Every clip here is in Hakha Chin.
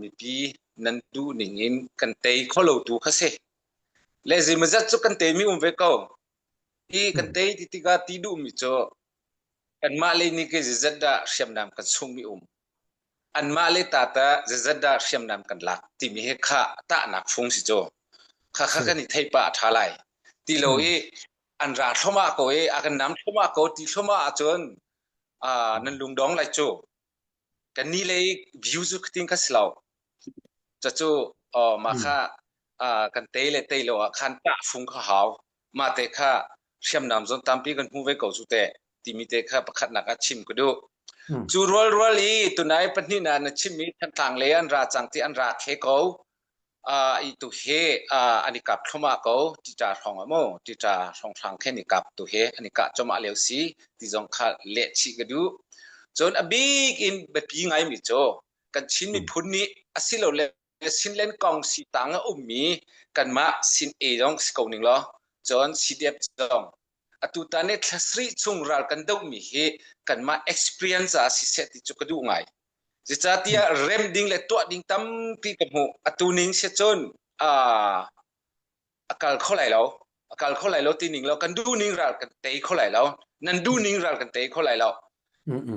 Mipi nan duh ning in kan tei kho lotu kha si. Le zeimawzat cu kan teimi um ve ko. Hi kan tei ti tikah ti duhmi cu kanmah le nih ke zeizat dah hriamnam kan sungmi um. Anmah le ta ta zeizat dah hriamnam kan lak timi he kha tahnak fung si cu. Kha kha kan i theih pah a ṭha lai. Ti lo i an ra thlomah ko i a kan nam thlomah ko ti thlomah ahcun nan lungdong lai cu. kannih lei view cu khting ka si lo cacu uh, mah kha uh, kan tei le tei lo ah khan tahfung ka hau ma te kha hriamnam zon tampi kan hmu ve ko cu te timi te kha pakhatnak a chim ka du cu rual rual i tunai pahnih na na chimmi thantlang le an ra cang ti an ra khe ko Ih tu hi an i kap thluahmah ko. Tica hrawng ah maw, tica hrawnghrang khin i kap tu hi an i kah cuahmah lio si ti zong kha leh chih ka duh. Cun a bik in biapi ngaimi cu kan Chin miphun nih asilole Sinland kong sitang a ummi kanmah Sin-A zong si ko ning law cun CDF zong atutan i thla sarih chung ral kan dohmi hi kanmah experience ah siseh ti cu ka duh ngai. Zeicahtiah remh ding le tuah ding tampi ka hmuh. Atu ning si cun aa a kal kho lai lo. A kal kho lai lo ti ning lo. Kan duh ning ral kan tei kho lai lo. Nan duh ning ral kan tei kho lai lo.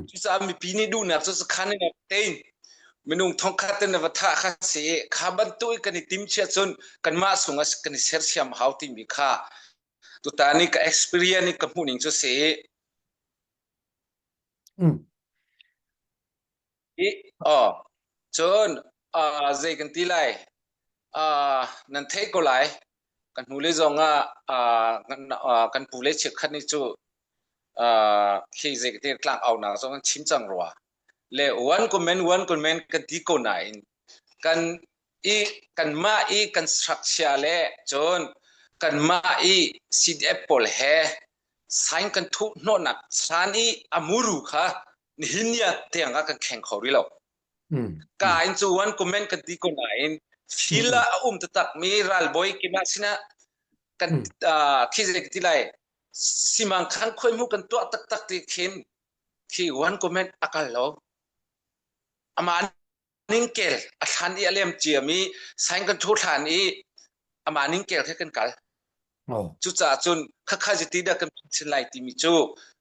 Cucaah mipi nih duhnak cu sakhan in rak tein minung thongkhat in va thah kha si i kha bantuk i kan i tim chia cun kanmah sung as kan i sersiam a hau timi kha tutan i ka experience i ka hmuh ning cu si. I, oh, cun uh, zei kan ti lai uh, nan thei ko lai kan hnu le zong ah uh, kan, uh, kan pu le chiat khat ni cu uh, khi zei ka ti tlang au na zong an chim cang rua le wan komen wan komen kan ti ko na in kan i kanmah i kan strakchia le cun kanmah i CDF pawl he sign kan thuh hnawhnak san i a muru kha nihin ni ah tiangah kan kheng kho rih lo. Mm. Ka in cu wan comment kan ti ko nain fil ah a um tatak mi ralbawi kima sinah kan khi zei ti lai simang khan khoi mu kan tuah tak tak ti khin khi wan comment akal lo ama ningkel a thlan i a lem ciam i sain kan thu thlan i amah ningkel khe kan kal cucaah cun khakha zeti dah kan phin lai timi cu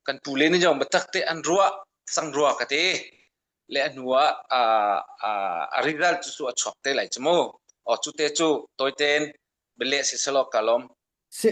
kan pu le nih jong batak te an ruah sang rua ka te le a hnu ah a riral cu su a chuak te lai chu mu o cu te cu toiten bele si selo kalom